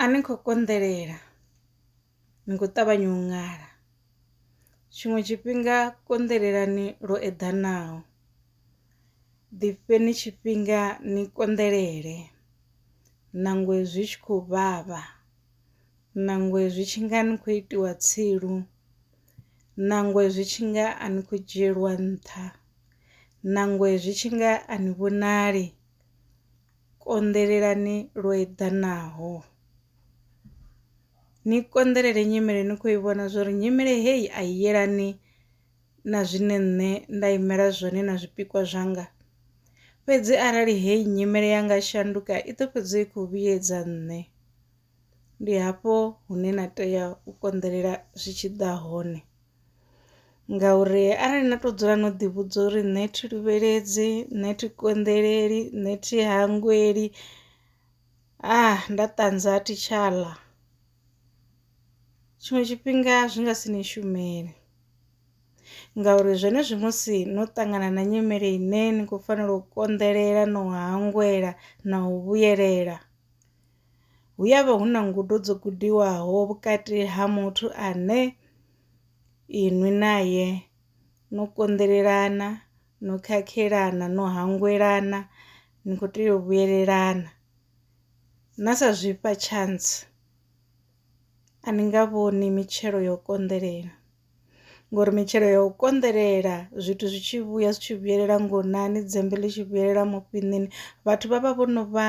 A ni kho konḓelela ni kho ṱavhanya u ṅala tshiṅwe tshifhinga konḓelelani lwo eḓanaho ḓi fheni tshifhinga ni konḓelele nangwe zwi tshi khou vhavha, nangwe zwi tshi nga ni khou itiwa tsilu, nangwe zwi tshi nga a ni khou dzhielwa nṱha, nangwe zwi tshi nga a ni vhonali Konḓelelani lwo eḓanaho. Ni konḓelele nyimele ni kho i vhona zwori nyimele heyi a i yelani na zwine nṋe nda imela zwone na zwipikwa zwanga, fhedzi arali heyi nyimele ya nga shanduka i ḓo fhedza i kho vhuyedza nṋe. Ndi hafho hune na tea u konḓelela zwi tshi ḓa hone. ngauri arali na to dzula no ḓi vhudza uri nṋe thi luvheledzi nṋe thi konḓeleli nṋe thi hangweli nda ṱanza a thi tsha ḽa tshiṅwe tshifhinga zwi nga si ni shumele ngauri zwenezwi musi no ṱangana na nyimele ine ni khou fanela u konḓelela no hangwela na u vhuyelela. hu ya vha hu na ngudo dzo gudiwaho vhukati ha muthu ane inwi naye no konḓelelana no khakhelana no hangwelana ni khou tea u vhuyelelana na sa zwifha chance a ni nga vhoni mitshelo yo konḓelela. ngori mitshelo ya u konḓelela zwithu zwi tshi vhuya zwi tshi vhuyelela ngonani dzembe ḽi tshi vhuyelela mufhinini vhathu vha vha vho no vha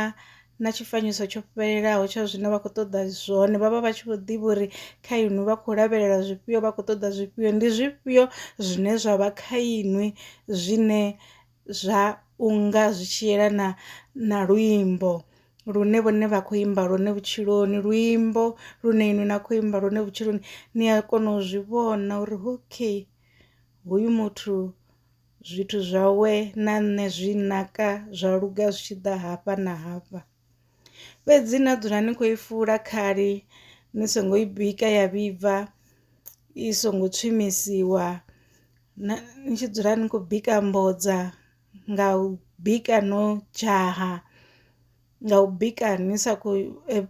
na tshifanyiso tsho fhelelaho tsha zwine vha khou ṱoḓa zwone vhavha vha tshi vho ḓivha uri kha inwi vha khou lavhelela zwifhio vha khou ṱoḓa zwifhio ndi zwifhio zwine zwa vha kha inwi zwine zwa unga zwi tshi yelana na luimbo lune vhone vha khou imba lwone vhutshiloni luimbo lune inwi na kho imba lwone vhutshiloni ni a kona u zwi vhona uri okay hoyu muthu zwithu zwawe na nṋe zwi naka zwa luga zwi tshi ḓa hafha na hafha. Fhedzi na dzula ni khou i fula khali ni songo i bika ya vhibva i songo tswimisiwa na ni tshi dzula ni khou bika mbodza nga u bika no dzhaha nga u bika ni sa khou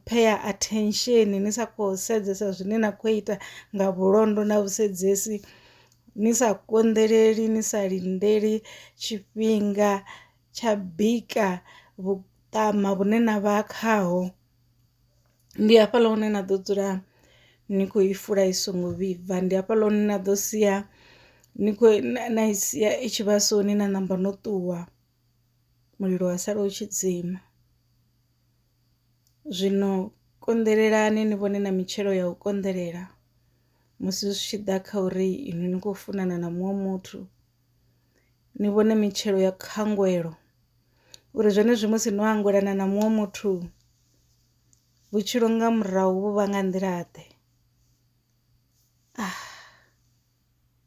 phea attention ni sa khou sedzesa zwine na khou ita nga vhulondo na vhusedzesi ni sa konḓeleli ni sa lindeli tshifhinga. tsha bika vhuṱama vhune na vha khaho ndi hafhaḽa hune na ḓo dzula ni kho i fula i songo vhibva ndi hafhaḽa hune na ḓo sia ni kho na i sia i tshi vhasoni na namba no ṱuwa mulilo wa sala u tshi dzima. Zwino konḓelelani ni vhone na mitshelo ya u konḓelela musi zwi tshi ḓa kha uri inwi ni khou funana na muṅwe muthu. ni vhone mitshelo ya khangwelo uri zwenezwi musi no angwelana na muṅwe muthu vhutshilo nga murahu vhu vha nga nḓila ḓe .